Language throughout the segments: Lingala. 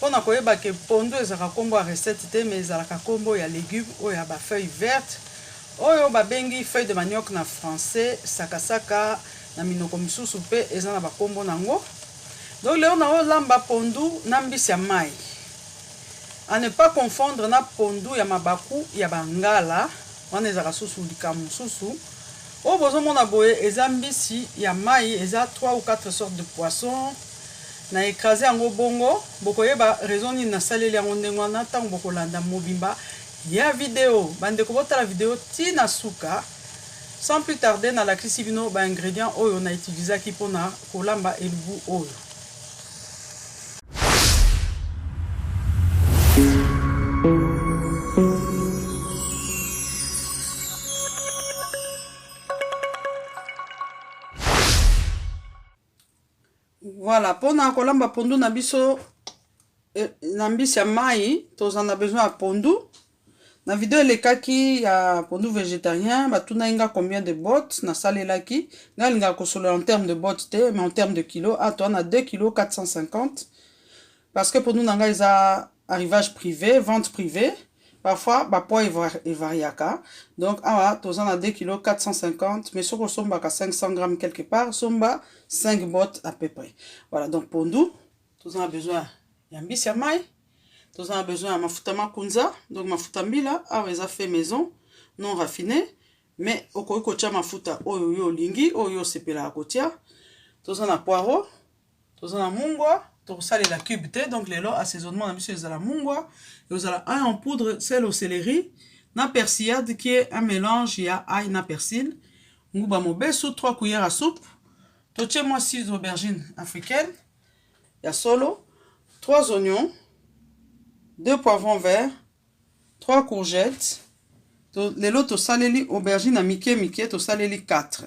Pona koyeba que pondu ezalaka kombo ya recette te mais ezalaka kombo ya legume oyo ya ba feuilles vertes oyo ba bengi feuilles de manioc na français, sakasaka na minoko misusu pe eza na ba kombo nango. Donc lelo nao lamba pondu na mbisi ya mayi. A ne pas confondre na pondu ya mabaku ya ba ngala wana ezalaka susu likambo mususu. Oyo bozo mona boye eza mbisi ya mayi eza trois ou quatre sortes de poissons. Na ecraser yango bongo. Bokoyeba raison nini nasaleli yango ndenge wana tango bokolanda mobimba ya video. Bandeko botala video ti na suka. Sans plus tarder, nalakisi bino ba ingredients oyo na utilisaki pona kolamba elubu oyo. Voilà, pona kolamba pondu na biso eh, na mbisi ya mai toza na besoin ya pondu. Na video elekaki ya pondu végétarien, batunaki nga combien de bottes nasalelaki. Nga alingaka kosolola en terme de bottes te, mais en terme de kilo, ah, toa na 2 kilo 450 parce que pondu na nga eza arrivage prive vente privée parfois ba poids evariaka donc awa toza na 2 kilo 450 mais soki osombaka 500 grammes quelque part somba 5 bottes à peu près voilà donc pondu toza na besoin ya mbisi ya mai toza na besoin ya mafuta makunza donc mafuta mbila awa eza fait maison non raffiné mais okoki kotya mafuta oyo yo olingi oyo osepelaka kotya toza na poireau toza na mungwa tokosalela cube te donc lelo assaisonnement na biso ezala mungwa ekozala ail en poudre sel au céleri na persillade qui est un mélange ya ail na persil nguba mobesu 3 cuillère à soupe totie mwa six aubergine africaine ya solo 3 oignons 2 poivrons verts 3 courgettes to, lelo tosaleli aubergine ya mike mike tosaleli 4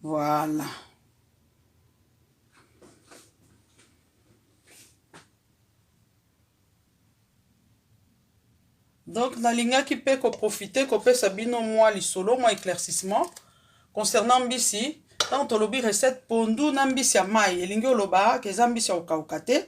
voilà donc nalingaki mpe koprofite kopesa bino mwa lisolo mwa éclaircissement concernant mbisi ntango tolobi recette pondu na mbisi ya mai elingi oloba ke eza mbisi ya kokauka te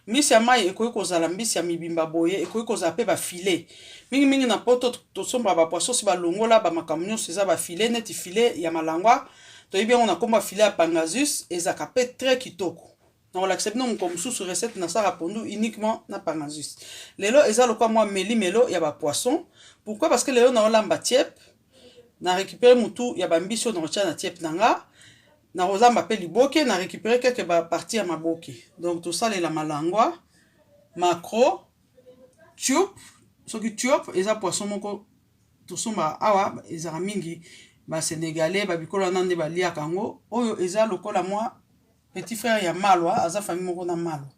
mbisi ya mai ekoki kozala mbisi ya mibimba boye ekoki kozala mpe bafile mingimingi na poto tosombaka bapoisonsi balongola bamakambo nyonso eza bafile neti file ya malangwa toyebi yango na nkombo ya filet ya pangasus ezalaka mpe très kitoko nakolakisa bino mokolo mosusu recette nasalaka pondu uniquement na pangasus lelo eza lokola mwa melimelo ya bapoisson pourquoi parce que lelo naolamba tiepe na récupéré motu ya bambisi oyo nakotya na tiepe na nga nakolamba mpe liboke na récupéré quelque baparti ya maboke donc tosalela malangwa macro tube soki tube eza poisson moko tosomba awa ezaka mingi ba Senegalais ba bikolo wana nde baliaka yango oyo eza lokola mwa petit frère ya malwa aza famille moko na malwa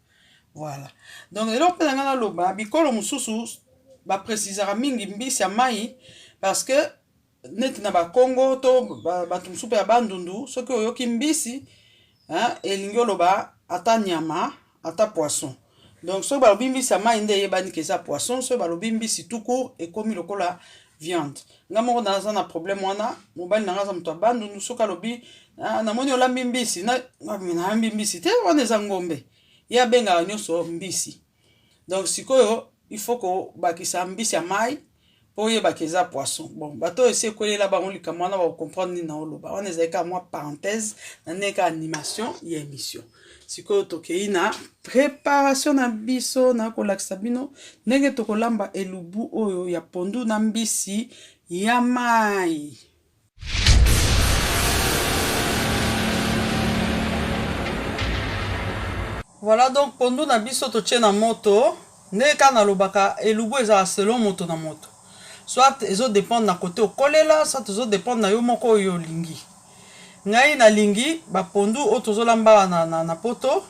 voilà donc eloko mpe na ngai naloba bikolo mosusu baprécisaka mingi mbisi ya mai parce que neti na bakongo to bato mosusu mpe ya bandundu soki oyoki mbisi elingi oloba ata nyama Ata poisson. Donc soki balobi mbisi ya mayi nde eyebani ke eza poisson, soki balobi mbisi tout court ekomi lokola viande. Nga moko naza na problème wana, mobali na nga aza moto ya Bandundu, soki alobi ah, namoni olambi mbisi, na nalambi mbisi te, wana eza ngombe. Ye abengaka nyonso mbisi. Donc sikoyo il faut kobakisa mbisi ya mayi po oyeba ke eza poisson bon bato oyo esi ekwelela bango likambo wana bakocomprendre nini naoloba wana ezali kaka mwa parenthèse na ndenge kaka animation ya émission sikoyo tokei na préparation na biso na kolakisa bino ndenge tokolamba elubu oyo ya pondu na mbisi ya mai Voilà donc pondu na biso totie na moto ndenge kaka nalobaka elubu ezala selon moto na moto soit ezo dependre na kote okolela soit ezo dependre na yo moko oyo olingi ngai nalingi bapondu oyo tozolamba awa na, na, na poto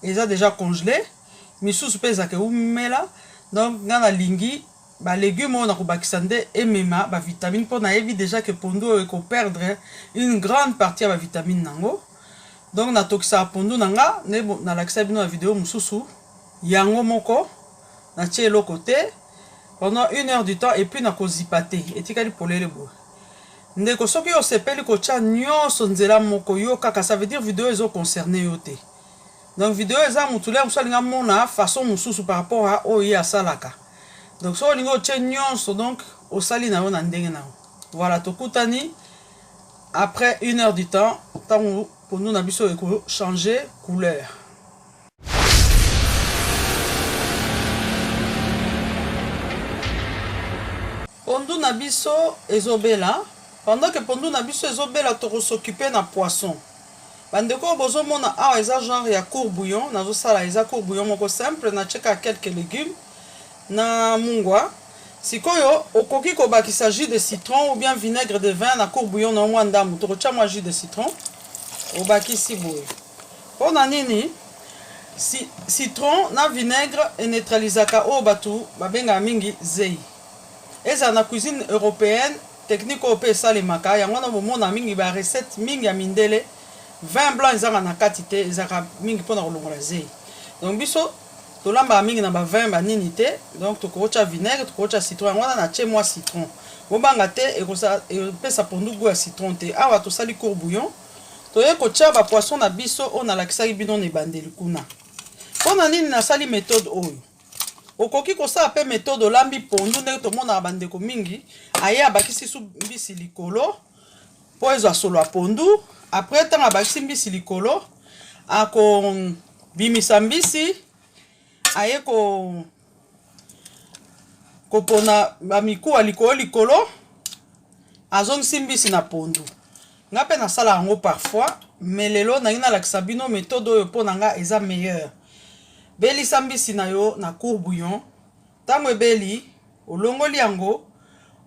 eza deja congele misusu mpe ezaka eumela donc ngai nalingi Ba legumes oyo nakobakisa nde emema ba vitamines mpo nayebi dejà que pondu oyo eko perdre une grande partie ya ba vitamines nango. Donc natokisaka pondu na nga nde nalakisaki bino na video mosusu, yango moko natie eloko te pendant une heure du temps et puis nakozipa te, etikali polele boye. Ndeko soki osepeli kotia nionso nzela moko yo kaka ça veut dire video ezo concerner yo te. Donc video eza mutu lia musu alinga mona façon mususu par rapport à oyo ye asalaka. Donc soki olingi otie nyonso donc osali na yo na ndenge na yo. Voilà tokutani après une heure du temps ntango pondu na biso eko changer couleur. Pondu na biso ezobela pendant que pondu na biso ezobela tokosokipe na poisson. Ba ndeko oyo bozo mona awa eza genre ya court bouillon nazo sala eza court bouillon moko simple na tie kaka quelques legumes na mungwa sikoyo okoki ko bakisa jus de citron ou bien vinaigre de vin na court bouillon na yo mwa ndambu toko tia mwa jus de citron obakisi boye pona nini si citron na vinaigre e neutralisaka oyo batu ba bengaka mingi zeyi Ezala na cuisine europeenne, technique oyo pe esalemaka, yango wana bomonaka mingi ba recettes mingi ya mindele, vin blanc ezanga na kati te, ezalaka mingi pona kolongola zeyi. Donc biso tolambaka mingi na ba vins ba nini te, donc tokoki otia vinaigre, tokoki otia citron, yango wana natie mua citron. Bobanga te, epesa pondu gout ya citron te. Awa tosali court bouillon, toye kotia ba poissons na biso oyo nalakisaki bino na ebandeli kuna. Pona nini nasali methode oyo? okoki kosala mpe metode olambi pondu ndenge tomonaka bandeko mingi aye abakisi su mbisi likolo mpo ezwa solo ya pondu apres ntango abakisi mbisi likolo akobimisa mbisi aye ko kopona bamikuwa likolo likolo azongisi mbisi na pondu Nga pe na sala yango parfois mais lelo na lingi na lakisa bino methode oyo po na nga eza meilleur. Belisa mbisi na yo na court bouillon tango ebeli olongoli yango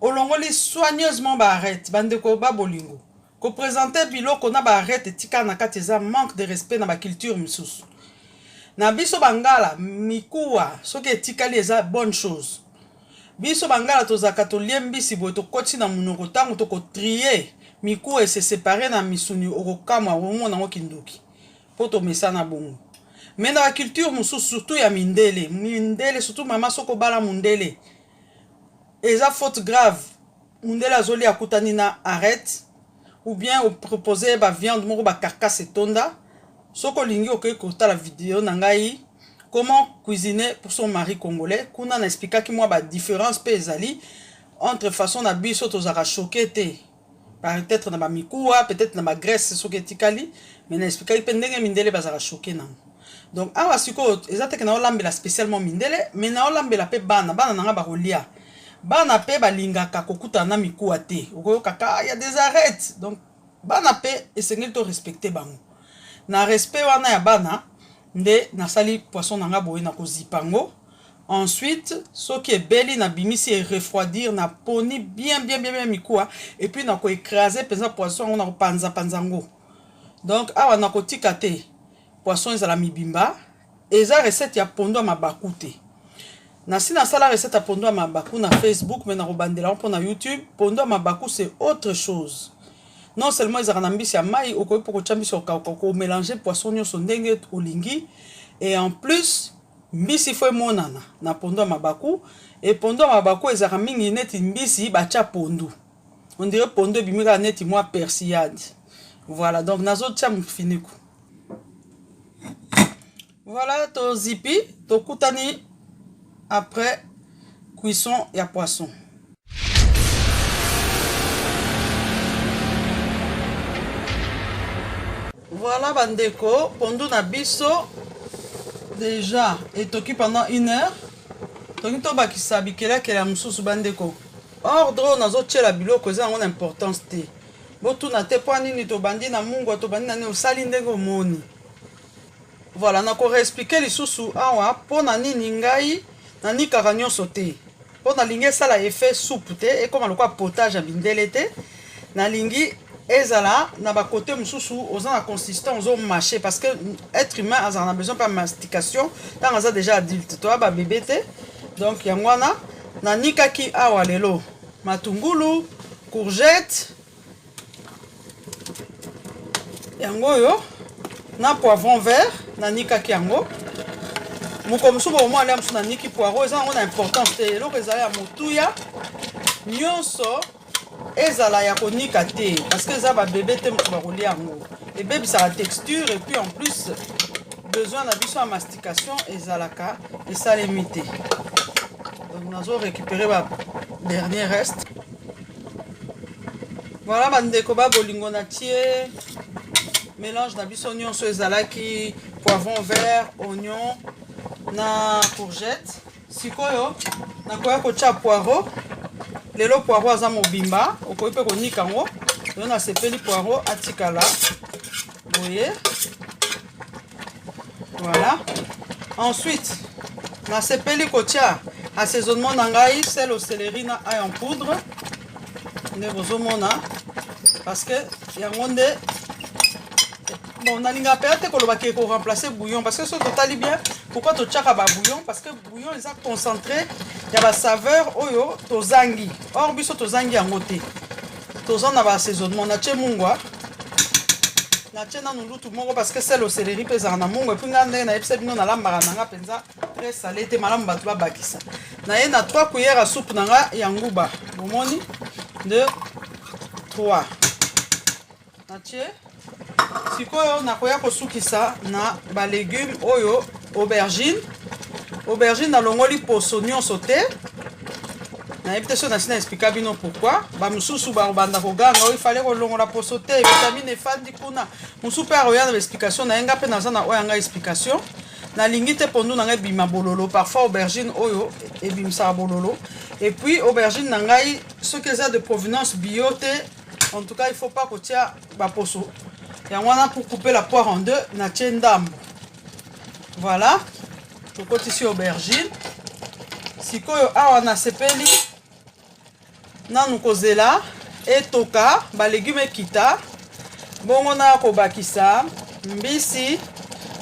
olongoli soigneusement ba arete ba ndeko ba bolingo ko presenter biloko na ba arete etikala na kati eza manque de respect na ba culture misusu. Na biso ba ngala mikuwa soki etikali eza bonne chose. Biso bangala tozalaka tolie mbisi boye tokoti na munoko tangu toko trie mikuwa ese separe na misuni okokamwa okomona ngo kindoki po tomesana bongo mais na ba culture mosusu surtout ya mindele mindele surtout mama soki obala mundele eza faute grave Mundele azoli akutani na arrête ou bien opropose ba viande moko ba carcasse etonda soki olingi okoki kotala video na ngai comment cuisiner pour son mari congolais kuna na explikaki mwa ba différence mpe ezali entre façon na biso tozalaka choke te peut-être na bamikuwa peut-être na bagrèce soki etikali mais na explikaki mpe ndenge mindele bazalaka choke nango donc awa sikoyo eza teke naolambela spécialement mindele mais naolambela mpe bana bana na ngai bakolia bana mpe balingaka kokutana na mikuwa te okoyoka ka ya des arrêtes donc bana mpe esengeli to respecte bango na respect wana ya bana nde nasali poisson na ngai boye na kozipa yango ensuite soki ebeli nabimisi erefroidir naponi bien bien bien bien mikuwa epuis nakoecrase mpenza poisson yango nakopanzapanza yango donc awa nakotika te Poisson ezala mibimba. Eza recette ya pondu ya mabaku te. Nasi nasala recette ya pondu ya mabaku na Facebook mais nakobandela yango mpo na YouTube. Pondu ya mabaku c'est autre chose. Non seulement ezalaka na mbisi ya mai, okoki mpo kotya mbisi okauka, okomelange poisson nyonso ndenge olingi. Et en plus, mbisi fo emonana na pondu ya mabaku. Et pondu ya mabaku ezalaka mingi neti mbisi batya pondu. on dirait pondu ebimi kaka neti mwa persillade voilà donc nazotia mofiniko voilà tozipi tokutani après cuisson ya poisson voilà bandeko pondu na biso déjà etoki pendant une heure tolingi tobakisa bikelakela mosusu bandeko ordre oyo nazotyela biloko eza yango na importance te botuna te mpo nini tobandi na mungwa tobandi na nini osali ndenge omoni voilà nakoreexplike lisusu awa mpo na nini ngai nanikaka nyonso te mpo nalingi esala effet soupe te ekóma lokola potage ya mindele te nalingi ezala na ba côté mususu oza na consistant ozo marcher parce que être humain azala na besoin pas mastication tant aza déjà adulte toi ba bébé te donc yango wana na nikaki awa lelo matungulu courgette yango oyo na poivron vert na nikaki yango mokolo mosusu bokomona lia mosusu na niki poiro eza yango na importance te eloko ezali ya motuya nyonso ezala ya konika te parce que eza babebe te moto bakolia yango ebebisaka texture et puis en plus besoin na biso ya mastication ezalaka esalemi te donc nazo récupérer ba dernier reste voilà bandeko ba bolingo na tie mélange na biso nyonso ezalaki poivron vert oignon na courgette Sikoyo nakoya kotya poireau. Lelo poireau aza mobimba, okoki mpe konika yango. Lelo nasepeli poireau atikala boye. Voilà. Ensuite, nasepeli kotya assaisonnement na ngai sel au céleri na ail en poudre. nde bozomona parce que yango nde bon nalinga mpenza te koloba ke koremplace bouillon parce que soki totali bien pourquoi totyaka babouillon parce que bouillon eza concentré ya basaveur oyo tozangi or biso tozangi yango te toza na baassaisonnement natye mungwa natye nanu lutu moko parce que sel oseleri mpe ezalaka na mungwa epui ngai ndenge nayebisa bino nalambaka na ngai mpenza très sale te malamu bato babakisa na ye na 3 cuillère ya soupe na nga ya nguba bomoni 2 3 natie sikoyo nakoya kosukisa na balegume oyo aubergine aubergine nalongoli poso nyonso te nayebi te soki nasi na explika bino pourkui bamosusu bakobanda koganga oyo ifale kolongola poso te vitamine efandi kuna mosusu mpe akoya na baexplikation na ye ngai mpe naza na oyo ya ngai explication nalingi te pondu na ngai ebima bololo parfois aubergine oyo ebimisaka bololo et puis aubergine na ngai soki eza de provenance bio te en tout cas il faut pas kotia baposo yango wana pour couper la poire en deux natie ndambo voilà tokotisi aubergine sikoyo awa nasepeli Nanu kozela etoka ba legume ekita bongo na kobakisa mbisi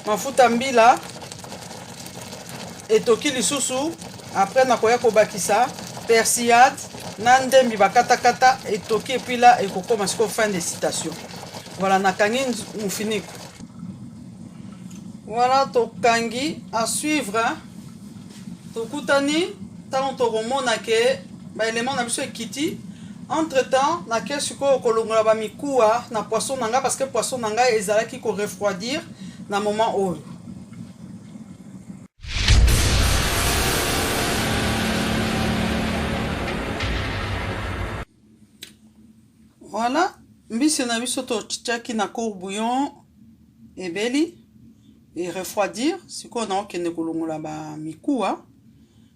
mafuta mbila etoki lisusu après nakoya kobakisa persillade na ndembi bakatakata etoki epuis la ekokoma siko fin de citation voilà nakangi mofiniko voilà tokangi à suivre tokutani ntango tokomona ke baelema na biso ekiti entre temps nake sikoyo kolongola bamikuwa na poisson na ngai parce que poisson na ngai ezalaki korefroidir na moment oyo Voilà, mbisi na biso totiaki na cour bouillon ebeli e refroidir. Sikoyo naokende kolongola ba mikuwa,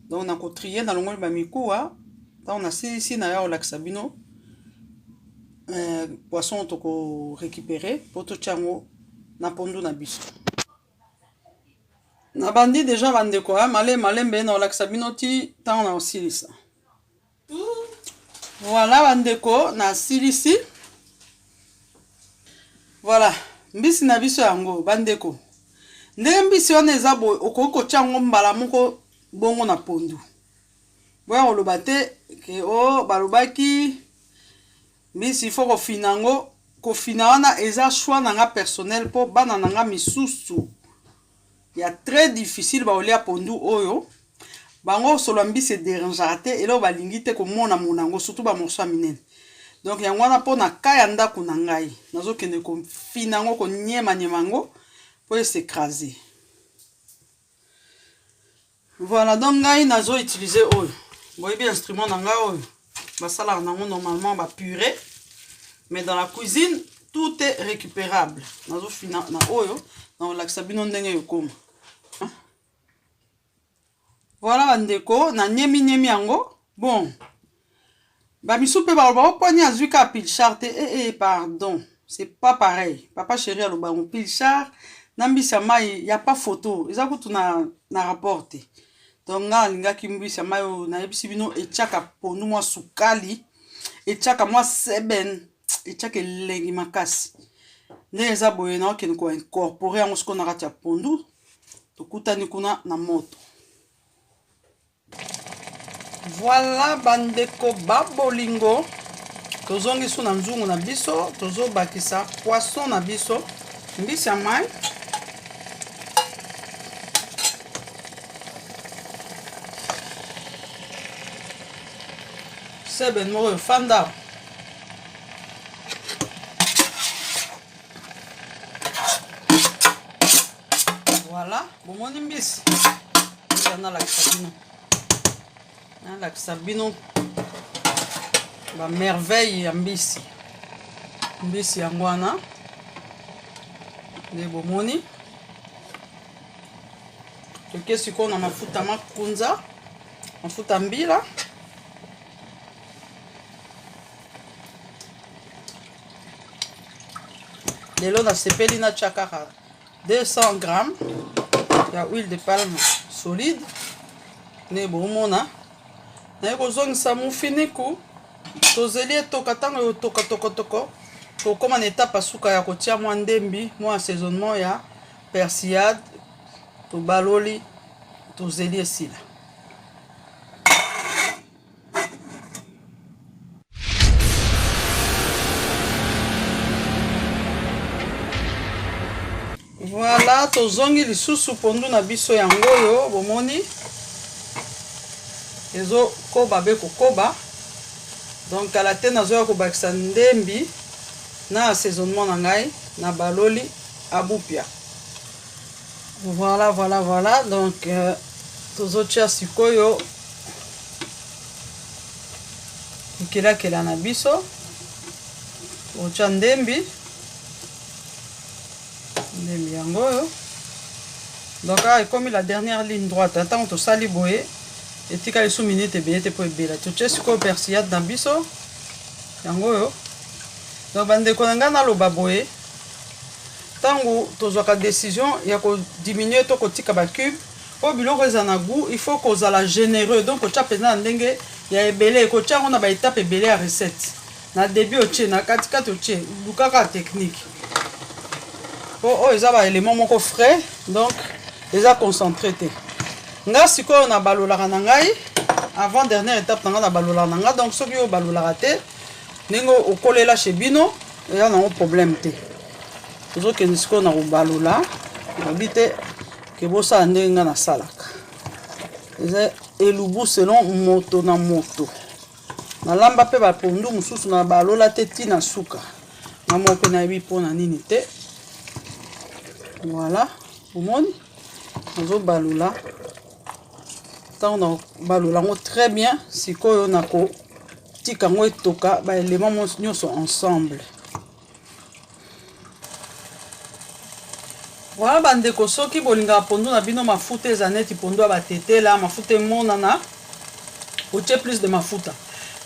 donc na kotrie nalongoli ba mikuwa ntango nasilisi naya kolakisa bino euh, poisson toko récupérer mpo totya yango na pondu na biso. Nabandi deja bandeko ya male malembe nakolakisa bino ti ntango nakosilisa. Voilà bandeko na silisi. Voilà mbisi na biso yango bandeko. Ndenge mbisi wana eza boye okoki kotya yango mbala moko bongo na pondu. Boya koloba te ke o oh, balobaki mbisi il faut kofina yango kofina wana eza choix na nga personnel mpo bana na nga misusu ya très difficile ba olia pondu oyo bango solo ya mbisi ederangeaka te eloko balingi te komona mona yango surtout ba morceau ya minene donc yango wana mpo na ka ya ndako na ngai nazokende kofina yango koniemaniema yango mpo ese crase Voilà, donc ngai nazo utiliser oyo. Boyebi instrument na ngai oyo. Basalaka nango normalement ba purée. Mais dans la cuisine, tout est récupérable. Nazo fina na oyo, na olakisa bino ndenge yokoma. Hein? Voilà bandeko, na nyemi nyemi yango. Bon, Ba misu pe baloba o poni azui ka pilchard te eh eh pardon c'est pas pareil papa cheri aloba yango pilchard na mbisi ya mayi ya pa photo eza kutu na na rapport te donc nga alingaki mbisi ya mayi oyo nayebisi bino etiaka pondu mwa sukali etiaka mwa seben etiaka elengi makasi nde eza boye na okende ko incorpore yango sikoyo na kati ya pondu tokutani kuna na moto Voilà ba ndeko ba bolingo tozongi su na nzungu na biso tozo bakisa poisson na biso mbisi ya mai seben moko efanda Voilà, bomoni mbisi. Ndio nalakisa bino. Nalakisa bino ba merveille ya mbisi. Mbisi yango wana nde bomoni toke sikoyo na mafuta makunza mafuta mbila lelo nasepeli natya kaka 200 grammes ya huile de palme solide nde bomona naye kozongisa mufiniku tozeli etoka ntango ya otoka tokotoko tokóma na etape ya suka ya kotia mwa ndembi mwa assaisonnement ya persillade tobaloli tozeli esila Voilà, tozongi lisusu pondu na biso yango oyo bomoni ezokoba be kokoba donc kala te nazoya kobakisa ndembi na assaisonnement na ngai na baloli abupia Voilà, voilà, voilà. Donc, euh, tozotia sikoyo bikelakela na biso otya ndembi ndembi yango oyo donc awa ekomi la dernière ligne droite ntango tosali boye etika lisu minute ebele te mpo ebela totye sikoyo persillade na biso yango oyo donc bandeko na ngai naloba boye Tango tozwaka decision ya ko diminuer to kotika ba cubes po biloko ezala na gout, il faut kozala genereux donc kotia mpenza na ndenge ya ebele, kotia yango na ba etape ebele ya recette. Na debut otie, na kati kati otie, luka kaka technique. Po oyo eza ba element moko frais donc eza concentre te. Nga sikoyo na balolaka na ngai avant dernière étape na ngai na balolaka na ngai donc soki yo obalolaka te ndenge okolela chez bino eza nango problème te. tozokende sikoyo na kobalola nabi te ke bosala ndenge ngai nasalaka eza elubu selon moto na moto nalamba mpe bapondu mosusu na balola te ti na suka na moko mpe nayebi mpo na nini te voilà omoni nazobalola ntango nabalola yango très bien sikoyo nakotika yango etoka baelema nyonso ensemble Voilà ba ndeko soki bolingaka pondu na bino mafuta eza neti pondu ya batetela mafuta emonana otie plus de mafuta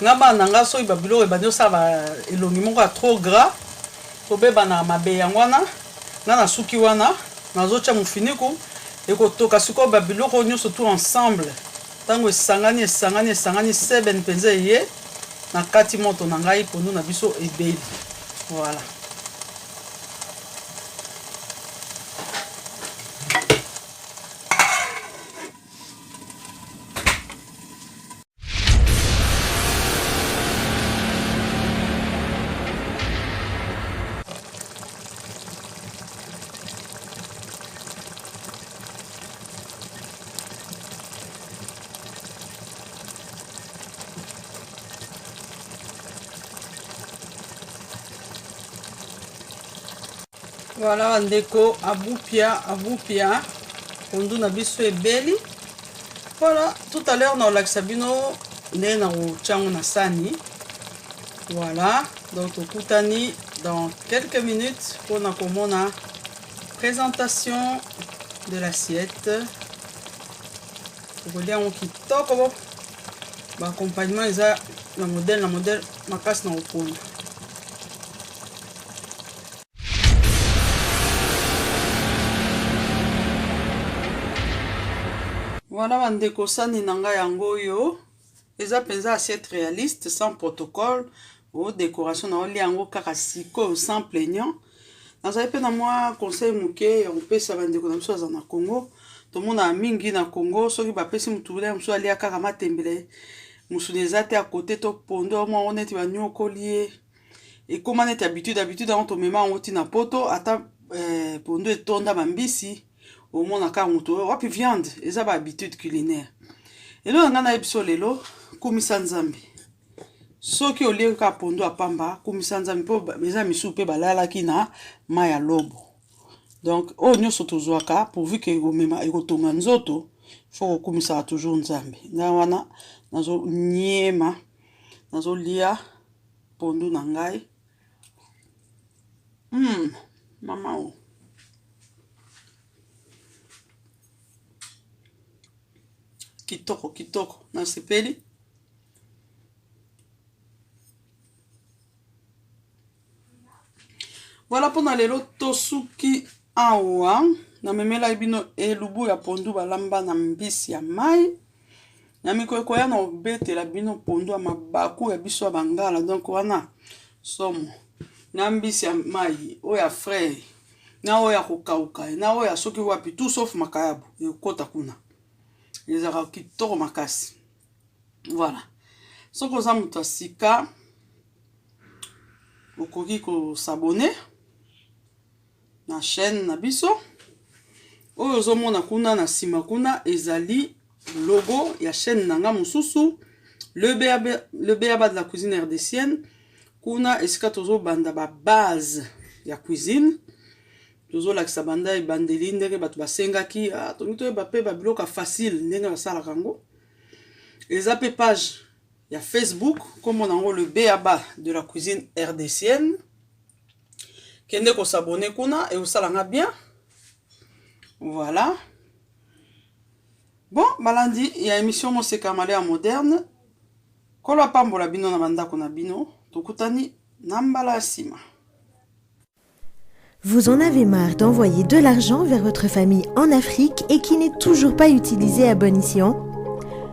nga bana na nga soki babiloko ebandi osala ba elongi moko ya trop gras tobebana mabe yango wana nga nasuki wana nazotya mofiniku ekotoka sikoyo babiloko nyonso tout ensemble Tango esangani, esangani, esangani, seben penza eye, na kati moto na ngai, pondu na biso ebeli. Voilà. Voilà ndeko abupia abupia pondu na biso ebeli voilà tout à l'heure naolakisa bino nde nakotya yango na sani voilà donc tokutani dans quelques minutes mpona komona Presentation de l'assiette. Tokolia yango kitoko. Ba accompagnement eza na modèle na modèle makasi na kopona. Voilà bandeko sani na ngai yango oyo. Eza penza assiette realiste sans protocole o decoration na olia yango kaka sikoyo sans plaignant. Nazali mpe na mwa conseil moke ya kopesa bandeko na biso aza na Congo. Tomonaka mingi na Congo soki bapesi motu bilei mosusu alia kaka matembele mosuni eza te ya kote to pondo yango yango neti banyokoli ye ekóma neti habitude habitude yango tomema yango ntina poto ata eh, pondo etonda bambisi omona kaka moto oyo wapi viande eza ba habitude culinaire elo na ngai nayebi so lelo kumisa nzambe soki olie kaka pondu apamba kumisa nzambe mpo eza misusu mpe balalaki na mai ya lobo donc oyo nyonso tozwaka pourvu ke ekomema ekotonga nzoto fo kokumisaka toujours nzambe ngai wana nazoniema nazolia pondu na ngai Mm, mama o. Kitoko, kitoko. Nasepeli. Voilà mpo na lelo tosuki awa namemelaki bino elubu ya pondu balamba na mbisi ya mai na mikolo ekoya na obetela bino pondu ya mabaku ya biso ya bangala donc wana somo na mbisi ya mai oyo ya frais na oyo ya kokauka na oyo ya soki wapi tout sauf makayabu ekota kuna ezalaka kitoko makasi voilà soki oza moto ya sika okoki kosabone na chaîne na biso oyo ozomona kuna na nsima kuna ezali logo ya chaîne na nga mosusu le beaba de la cuisine rdcienne kuna esika tozobanda babase ya cuisine tozolakisa banda ebandeli ndenge bato basengaki ah, tongi toyeba mpe babiloka facile ndenge basalaka yango eza mpe page ya facebook nkombo na yango le beaba de la cuisine rdcienne kende ko s'abonner kuna et osala nga bien voilà bon balandi ya émission moseka male ya moderne kolo apambola bino na bandako na bino tokutani na mbala ya nsima Vous en avez marre d'envoyer de l'argent vers votre famille en Afrique et qui n'est toujours pas utilisé à bon escient